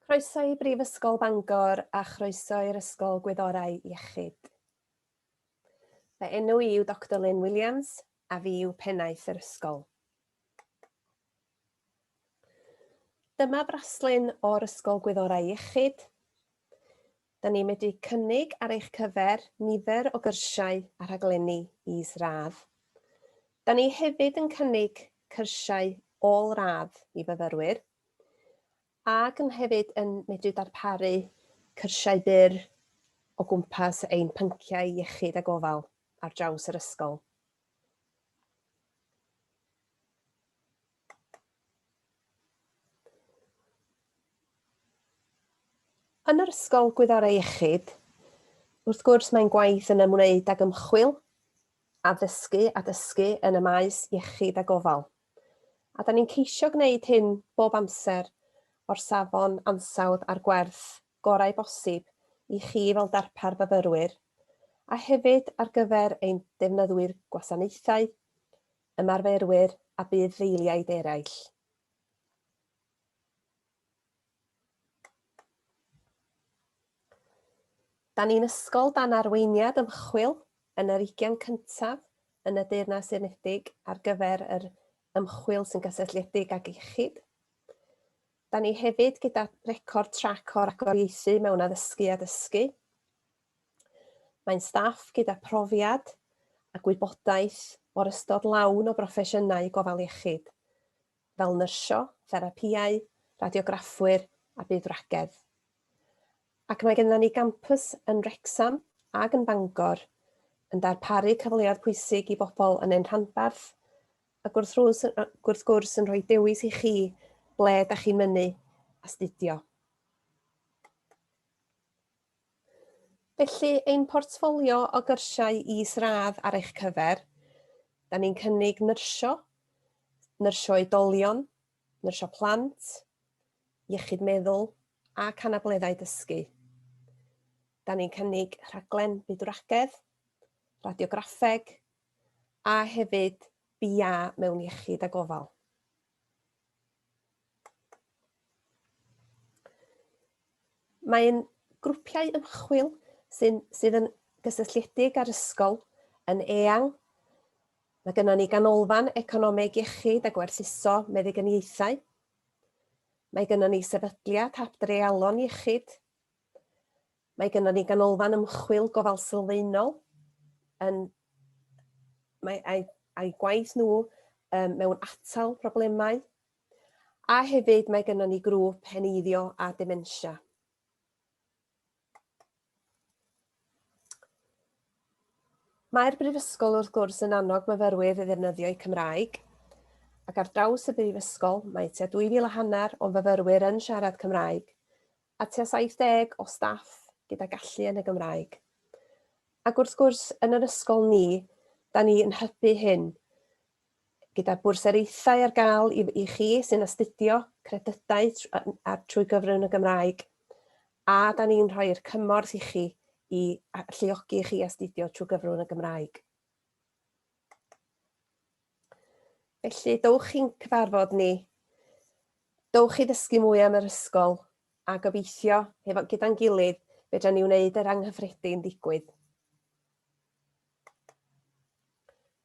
Croeso i Brifysgol Bangor a chroeso i'r Ysgol Gwyddorau Iechyd. Fy enw i yw Dr Lynn Williams a fi yw pennaeth yr ysgol. Dyma fraslun o'r Ysgol Gwyddorau Iechyd. Da ni'n medru cynnig ar eich cyfer nifer o gyrsiau a rhaglenni is-radd. Da ni hefyd yn cynnig cyrsiau ôl-radd i fyfyrwyr ac yn hefyd yn medru darparu cyrsiau byr o gwmpas ein pynciau iechyd a gofal ar draws yr ysgol. Yn yr Ysgol Gwyddorau Iechyd, wrth gwrs, mae'n gwaith yn ymwneud ag ymchwil, addysgu a dysgu yn y maes iechyd a gofal. A da ni'n ceisio gwneud hyn bob amser o'r safon ansawdd a'r gwerth gorau bosib i chi fel darpar fyfyrwyr, a hefyd ar gyfer ein defnyddwyr gwasanaethau, ymarferwyr a budd-ddeiliaid eraill. Da ni'n ysgol dan arweiniad ymchwil yn yr ugian cyntaf yn y Deyrnas Unedig ar gyfer yr ymchwil sy'n gysylltiedig ag iechyd. Da ni hefyd gyda record trac o'r agoriaethu mewn addysgu a dysgu. Mae'n staff gyda phrofiad a gwybodaeth o'r ystod lawn o broffesiynau gofal iechyd, fel nyrsio, therapïau, radiograffwyr a budd-wragedd. Ac mae gennym ni gampws yn Wrecsam ac yn Bangor yn darparu cyfleoedd pwysig i bobl yn ein rhanbarth, ac wrth gwrs yn rhoi dewis i chi ble da chi'n mynnu astudio. Felly, ein portffolio o gyrsiau is-radd ar eich cyfer, da ni'n cynnig nyrsio, nyrsio oedolion, nyrsio plant, iechyd meddwl ac anableddau dysgu. Da ni'n cynnig rhaglen bydwragedd, radiograffeg a hefyd BA mewn iechyd a gofal. Mae'n grwpiau ymchwil sy'n sydd yn gysylltiedig â'r ysgol yn eang. Mae gennym ni ganolfan economeg iechyd a gwerthuso meddyginiaethau. Mae gennym ni sefydliad hap dreialon iechyd. Mae gennym ni ganolfan ymchwil gofal sylfaenol yn mae a'i a'i gwaith nhw mewn atal problemau A hefyd mae gynnon ni grŵp heneiddio a dementia. Mae'r Brifysgol wrth gwrs yn annog myfyrwyr i ddefnyddio eu Cymraeg, ac ar draws y Brifysgol mae tua 2,000 a hanner o'n fyfyrwyr yn siarad Cymraeg, a tua 70 o staff gyda gallu yn y Gymraeg. Ac wrth gwrs, yn yr ysgol ni, da ni yn hybu hyn, gyda bwrsariaethau ar gael i i chi sy'n astudio credydau tr- a- a- trwy gyfrwng y Gymraeg, a 'dan ni'n rhoi'r cymorth i chi i a- alluogi chi astudio trwy gyfrwng y Gymraeg. Felly, dowch i'n cyfarfod ni, dowch i ddysgu mwy am yr ysgol, a gobeithio, hefo- gyda'n gilydd, fedran ni wneud yr anghyffredin ddigwydd.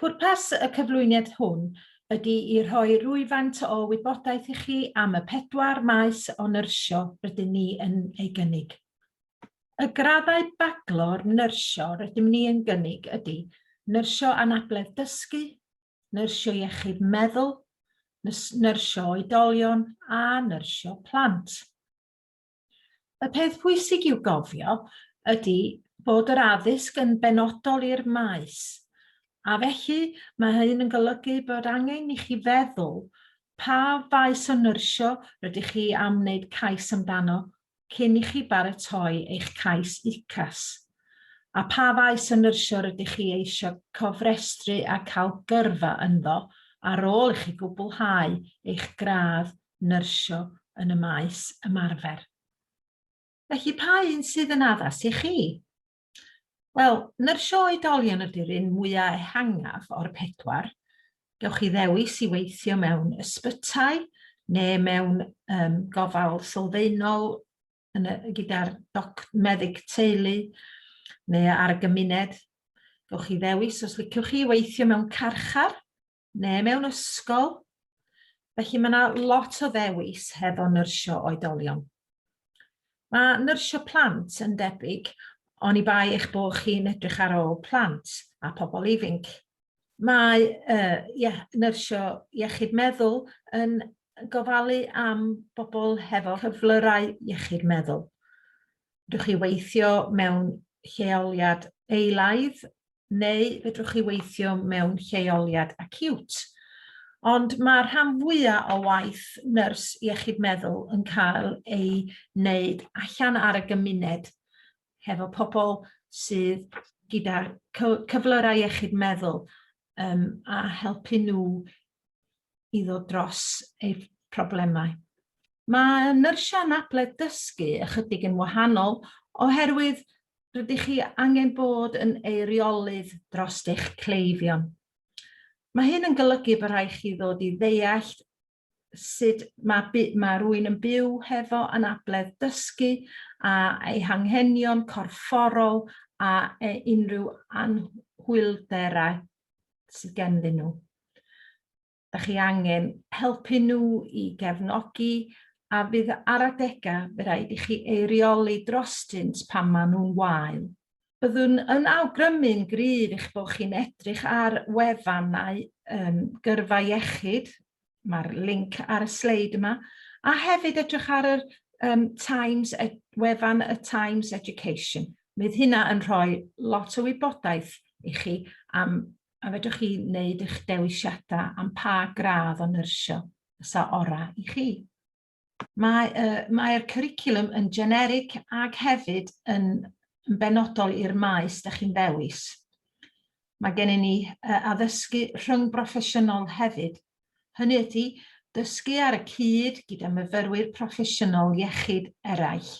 Pwrpas y cyflwyniad hwn ydy i rhoi rhywfaint o wybodaeth i chi am y pedwar maes o nyrsio rydyn ni yn ei gynnig. Y graddau baglor nyrsio rydym ni yn gynnig ydy Nyrsio Anabledd Dysgu, Nyrsio Iechyd Meddwl, Nyrsio Oedolion a Nyrsio Plant. Y peth pwysig i'w gofio ydy bod yr addysg yn benodol i'r maes, a felly mae hyn yn golygu bod angen i chi feddwl pa faes o nyrsio rydych chi am wneud cais amdano cyn i chi baratoi eich cais UCAS, a pha faes o nyrsio rydych chi eisiau cofrestru a cael gyrfa ynddo ar ôl i chi gwblhau eich gradd nyrsio yn y maes ymarfer. Felly, pa un sydd yn addas i chi? Wel, nyrsio oedolion ydy'r un mwyaf ehangaf o'r pedwar. Gewch chi ddewis i weithio mewn ysbytai neu mewn um, gofal sylfaenol gyda'r meddyg teulu neu ar y gymuned. Gewch chi ddewis os liciwch chi weithio mewn carchar neu mewn ysgol. Felly mae yna lot o ddewis hefo nyrsio oedolion. Mae nyrsio plant yn debyg, ond i bai eich bod chi'n edrych ar ôl plant a pobl ifinc. Mae uh, ie, nyrsio iechyd meddwl yn gofalu am bobl hefo cyflyrau iechyd meddwl. Fedrwch chi weithio mewn lleoliad eilaidd neu fedrwch chi weithio mewn lleoliad acute. Ond mae rhan fwyaf o waith nyrs iechyd meddwl yn cael ei wneud allan ar y gymuned hefo pobl sydd gyda cyflyrau iechyd meddwl um, a helpu nhw i ddod dros eu problemau. Mae nyrsiau anabledd dysgu ychydig yn wahanol oherwydd rydych chi angen bod yn eiriolydd dros eich cleifion. Mae hyn yn golygu bod rhaid chi ddod i ddeall sut mae, mae rwy'n yn byw hefo anabledd dysgu a ei hanghenion corfforol a e unrhyw anhwylderau sydd genddyn nhw. Dych chi angen helpu nhw i gefnogi a fydd ar adegau fe rhaid i chi eirioli drostynt pan maen nhw'n wael. Byddwn yn awgrymu'n gryf eich bod chi'n edrych ar wefannau um, gyrfa iechyd, mae'r link ar y sleid yma, a hefyd edrych ar yr um, Times, ed, wefan y Times Education. Bydd hynna yn rhoi lot o wybodaeth i chi am A fedrwch chi wneud eich dewisiadau am pa gradd o nyrsio fysa orau i chi. Mae'r uh, mae cwricwlwm yn generig ac hefyd yn, yn benodol i'r maes da chi'n ddewis. Mae gennym ni uh, addysgu rhwng broffesiynol hefyd. Hynny ydy, dysgu ar y cyd gyda myfyrwyr proffesiynol iechyd eraill.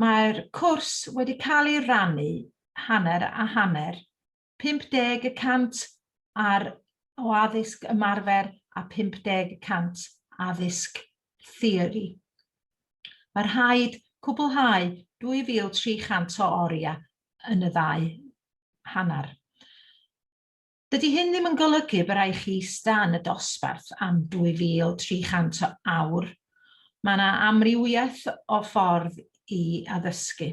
Mae'r cwrs wedi cael ei rannu hanner a hanner, 50 y cant ar o addysg ymarfer a 50 y cant addysg theori. Mae rhaid cwblhau 2,300 o oriau yn y ddau hanner. Dydy hyn ddim yn golygu y byrai chi ista yn y dosbarth am 2,300 o awr. Mae yna amrywiaeth o ffordd i addysgu.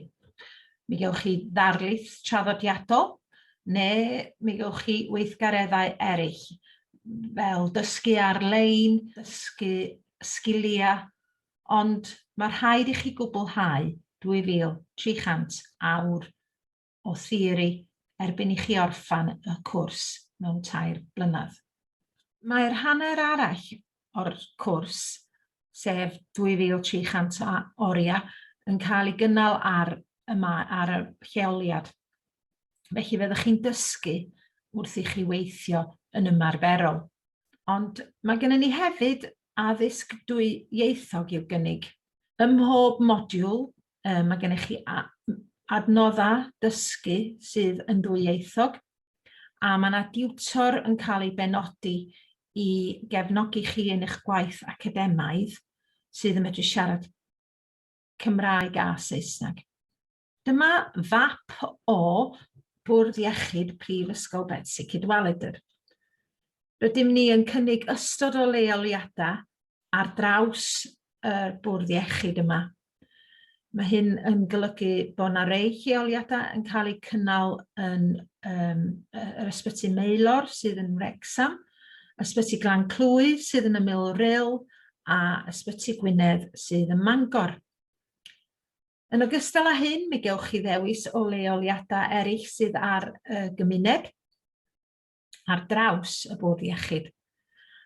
Mi gewch chi ddarlith traddodiadol, neu mi gewch chi weithgareddau eraill, fel dysgu ar-lein, dysgu sgiliau, ond mae rhaid i chi gwblhau 2,300 awr o theori erbyn i chi orffan y cwrs mewn tair blynedd. Mae'r hanner arall o'r cwrs, sef 2300 o oriau, yn cael ei gynnal ar y, ar y lleoliad. Felly fe ddech chi'n dysgu wrth i chi weithio yn ymarferol. Ond mae gennym ni hefyd addysg dwy ieithog i'w gynnig. Ym mhob modiwl Um, mae gennych chi adnoddau dysgu sydd yn ddwyieithog, a mae yna diwtor yn cael ei benodi i gefnogi chi yn eich gwaith academaidd sydd yn medru siarad Cymraeg a Saesneg. Dyma fap o Bwrdd Iechyd Prifysgol Betsi Cadwaladr. Rydym ni yn cynnig ystod o leoliadau ar draws y bwrdd iechyd yma. Mae hyn yn golygu bod yna rei lleoliadau yn cael eu cynnal yn um, yr ysbyty Meilor sydd yn Wrexham, ysbyty Glan Clwyd sydd yn ymyl Rhyl a ysbyty Gwynedd sydd yn Mangor. Yn ogystal â hyn, mi gewch chi ddewis o leoliadau eraill sydd ar y gymuned. ar draws y bwrdd iechyd.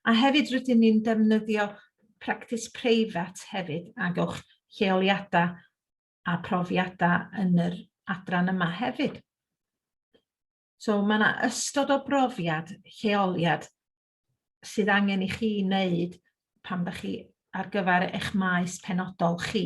A hefyd rydyn ni'n defnyddio practis preifat hefyd a gewch lleoliadau a profiadau yn yr adran yma hefyd. So mae yna ystod o brofiad, lleoliad sydd angen i chi wneud pan ydych chi ar gyfer eich maes penodol chi.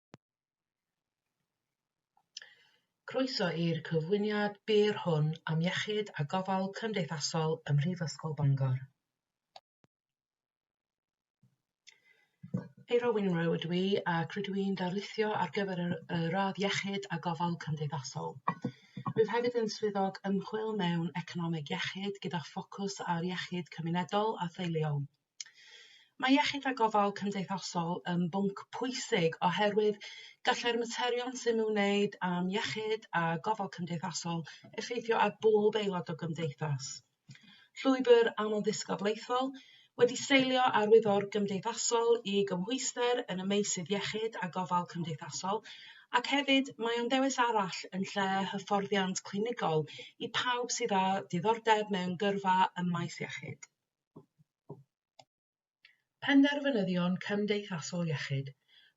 Croeso i'r cyflwyniad byr hwn am Iechyd a Gofal Cymdeithasol ym Mhrifysgol Bangor. Eira Wyn Rowe ydw i ac rydw i'n darlithio ar gyfer y, y radd Iechyd a Gofal Cymdeithasol. Rwyf hefyd yn swyddog ymchwil mewn economeg iechyd gyda ffocws ar iechyd cymunedol a theuluol. Mae iechyd a gofal cymdeithasol yn bwnc pwysig oherwydd gallai'r materion sy'n nhw'n wneud am iechyd a gofal cymdeithasol effeithio ar bob aelod o gymdeithas. Llwybr amlddisgyblaethol wedi seilio ar wyddor gymdeithasol i gymhwyster yn y meysydd iechyd a gofal cymdeithasol ac hefyd mae o'n ddewis arall yn lle hyfforddiant clinigol i pawb sydd â diddordeb mewn gyrfa ym maes iechyd. Penderfynyddion cymdeithasol iechyd,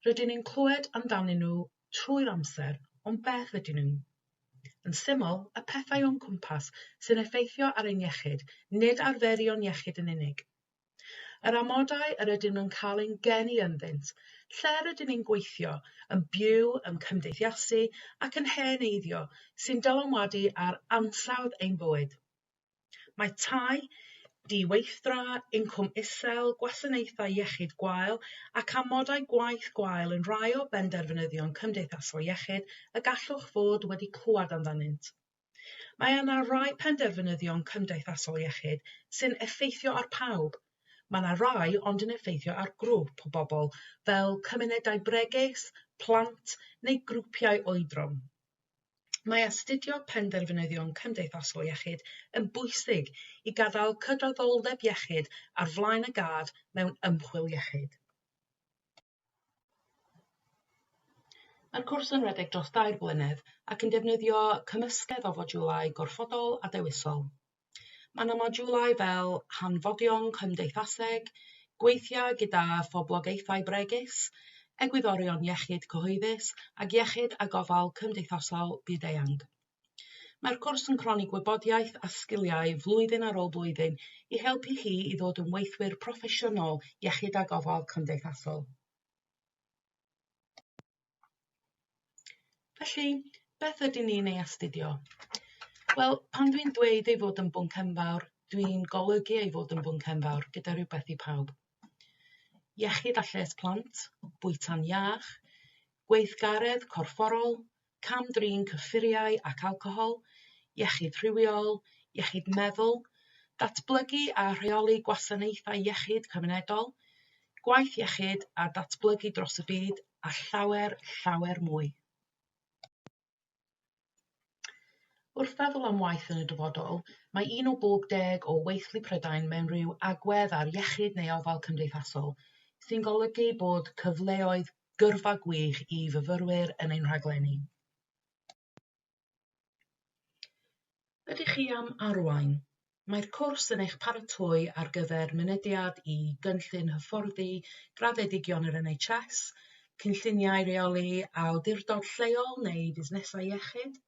rydyn ni'n clywed amdanyn nhw trwy'r amser, ond beth ydyn nhw? Yn syml, y pethau o'n cwmpas sy'n effeithio ar ein iechyd, nid arferion iechyd yn unig. Yr amodau yr ydym yn cael ein geni ynddynt, lle rydyn ni'n gweithio, yn byw, yn cymdeithasu ac yn hen eiddio, sy'n dylanwadu ar ansawdd ein bywyd. Mae tai di-weithdra, incwm isel, gwasanaethau iechyd gwael ac amodau gwaith gwael yn rhai o benderfynyddion cymdeithasol iechyd y gallwch fod wedi clywed amdanynt. Mae yna rai penderfynyddion cymdeithasol iechyd sy'n effeithio ar pawb. Mae yna rai ond yn effeithio ar grŵp o bobl, fel cymunedau bregus, plant neu grwpiau oedran. Mae astudio penderfynyddion cymdeithasol iechyd yn bwysig i gadael cydraddoldeb iechyd ar flaen y gad mewn ymchwil iechyd. Mae'r cwrs yn rhedeg dros dair blynedd ac yn defnyddio cymysgedd o fodiwlau gorfodol a dewisol. Mae yna modiwlau fel hanfodion cymdeithaseg, gweithiau gyda phoblogaethau bregus, egwyddorion iechyd cyhoeddus ac iechyd a gofal cymdeithasol byd-eang. Mae'r cwrs yn cronni gwybodaeth a sgiliau flwyddyn ar ôl blwyddyn i helpu chi i ddod yn weithwyr proffesiynol iechyd a gofal cymdeithasol. Felly, beth ydyn ni'n ei astudio? Wel, pan dwi'n dweud ei fod yn bwnc enfawr, dwi'n golygu ei fod yn bwnc enfawr gyda rhywbeth i pawb. Iechyd a lles plant, bwyta'n iach, gweithgaredd corfforol, cam-drin cyffuriau ac alcohol, iechyd rhywiol, iechyd meddwl, datblygu a rheoli gwasanaethau iechyd cymunedol, gwaith iechyd a datblygu dros y byd a llawer, llawer mwy. Wrth feddwl am waith yn y dyfodol, mae un o bob deg o weithlu Prydain mewn rhyw agwedd ar iechyd neu ofal cymdeithasol, sy'n golygu bod cyfleoedd gyrfa gwych i fyfyrwyr yn ein rhaglenni. Ydych chi am arwain? Mae'r cwrs yn eich paratoi ar gyfer mynediad i gynllun hyfforddi graddedigion yr NHS, cynlluniau rheoli awdurdod lleol neu fusnesau iechyd.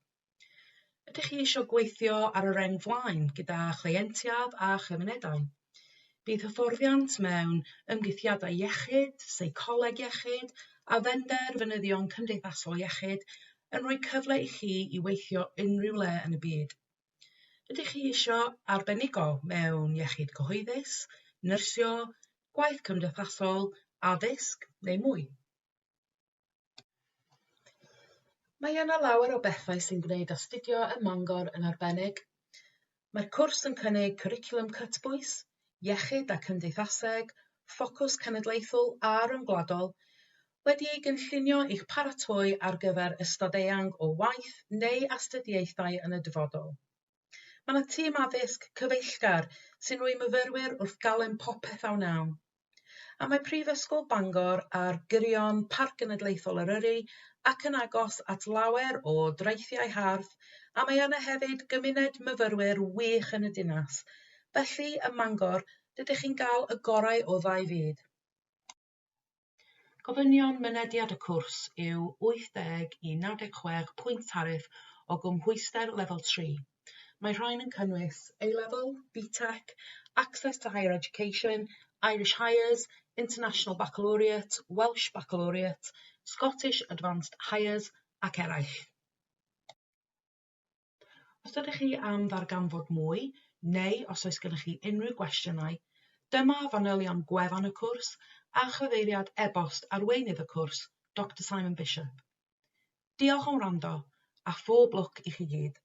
Ydych chi eisiau gweithio ar y reng flaen gyda chleientiaid a chymunedau? Bydd hyfforddiant mewn ymgeithiadau iechyd, seicoleg iechyd a phenderfynyddion cymdeithasol iechyd yn rhoi cyfle i chi i weithio unrhyw le yn y byd. Ydych chi eisiau arbenigo mewn iechyd cyhoeddus, nyrsio, gwaith cymdeithasol, addysg neu mwy? Mae yna lawer o bethau sy'n gwneud astudio ym Mangor yn arbennig. Mae'r cwrs yn cynnig cwricwlwm cytbwys, iechyd a cymdeithaseg, ffocws cenedlaethol a ryngwladol, wedi ei gynllunio i'ch paratoi ar gyfer ystod eang o waith neu astudiaethau yn y dyfodol. Mae yna tîm addysg cyfeillgar sy'n rhoi myfyrwyr wrth galon popeth a wnawn. A mae Prifysgol Bangor ar gyrion Parc Genedlaethol Eryri ac yn agos at lawer o draethiau hardd a mae yna hefyd gymuned myfyrwyr wych yn y dinas. Felly, ym Mangor, dydych chi'n gael y gorau o ddau fyd. Gofynion mynediad y cwrs yw 80 i 96 pwynt tariff o gymhwyster Lefel 3. Mae rhain yn cynnwys A-Level, BTEC, Access to Higher Education, Irish Highers, International Baccalaureate, Welsh Baccalaureate, Scottish Advanced Highers ac eraill. Os ydych chi am ddarganfod mwy, neu os oes gennych chi unrhyw gwestiynau, dyma fanylion gwefan y cwrs a chyfeiriad e-bost arweinydd y cwrs, Doctor Simon Bishop. Diolch am wrando, a phob lwc i chi gyd!